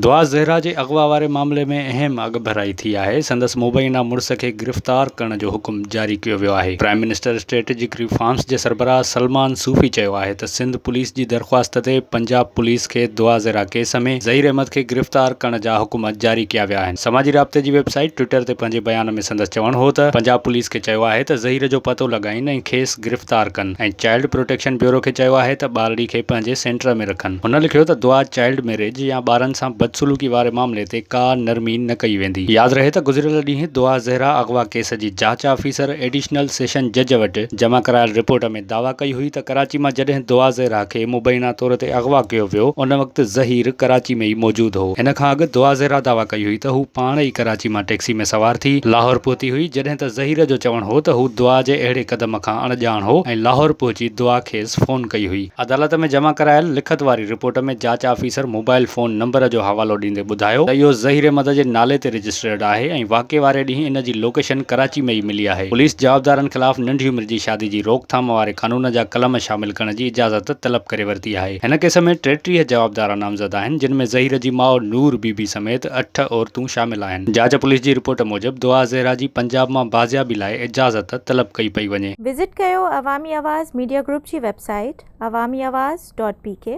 دعا زهرا جي اغوا واري معاملي ۾ اهم اڳڀرائي ٿي آهي، سندس مبينا مڙس کي گرفتار ڪرڻ جو حڪم جاري ڪيو ويو آهي. پرائم منسٽر اسٽريٽجڪ ريفارمز جي سربراهه سلمان صوفي چيو آهي ته سنڌ پوليس جي درخواست تي پنجاب پوليس کي دعا زهرا ڪيس ۾ ظهير احمد کي گرفتار ڪرڻ جا حڪم جاري ڪيا ويا آهن. سماجي رابطي جي ويب سائيٽ ٽوئٽر تي پنهنجي بيان ۾ سندس چوڻ هو ته پنجاب پوليس کي چيو آهي ته ظهير جو پتو لڳائين ۽ کيس گرفتار ڪن. ۽ چائلڊ پروٽيڪشن بيورو کي چيو آهي ته ٻارڙي کي پنهنجي سينٽر ۾ رکن. هن لکيو ته دعا چائلڊ ميريج يا ٻارن سان بدسلوڪي واري معاملي تي ڪا نرمي نه ڪئي ويندي. ياد رهي ته گذريل ڏينهن دعا زهرا اغوا ڪيس جي جاچ آفيسر ايڊيشنل سيشن جج وٽ جمع ڪرايل رپورٽ ۾ دعويٰ ڪئي هئي ته ڪراچي مان جڏهن دعا زهرا کي مبينا طور تي اغوا ڪيو ويو ان وقت ظهير ڪراچي ۾ ئي موجود هو. ان کان اڳ دعا زهرا دعويٰ ڪئي هئي ته هو پاڻ ئي ڪراچي مان ٽيڪسي ۾ سوار ٿي لاهور پهتي هئي جڏهن ته ظهير جو چوڻ هو ته هو دعا جي اهڙي قدم کان اڻ ڄاڻ هو ۽ لاهور پهچي دعا کيس فون ڪئي هئي. عدالت ۾ جمع ڪرايل لکت واري رپورٽ ۾ جاچ آفيسر موبائيل فون نمبر جو حوالو ڏيندي ٻڌايو ته اهو ظهير مد جي نالي تي رجسٽرڊ آهي ۽ واقعي واري ڏينهن ان جي لوڪيشن ڪراچي ۾ ئي ملي آهي. پوليس جوابدارن خلاف ننڍي عمر جي شادي جي روڪ ٿام واري قانون جا قلم شامل ڪرڻ جي اجازت طلب ڪري ورتي آهي. هن ڪيس ۾ ٽيٽيهه جوابدار نامزد آهن جن ۾ ظهير جي ماء نور بي بي سميت اٺ عورتون شامل آهن. جاچ پوليس جي رپورٽ موجب دعا زهرا جي پنجاب مان بازيابي لاء اجازت طلب ڪئي پئي وڃي. وزٽ ڪيو عوامي آواز ميڊيا گروپ جي website Awami Awaz dot P ڪي.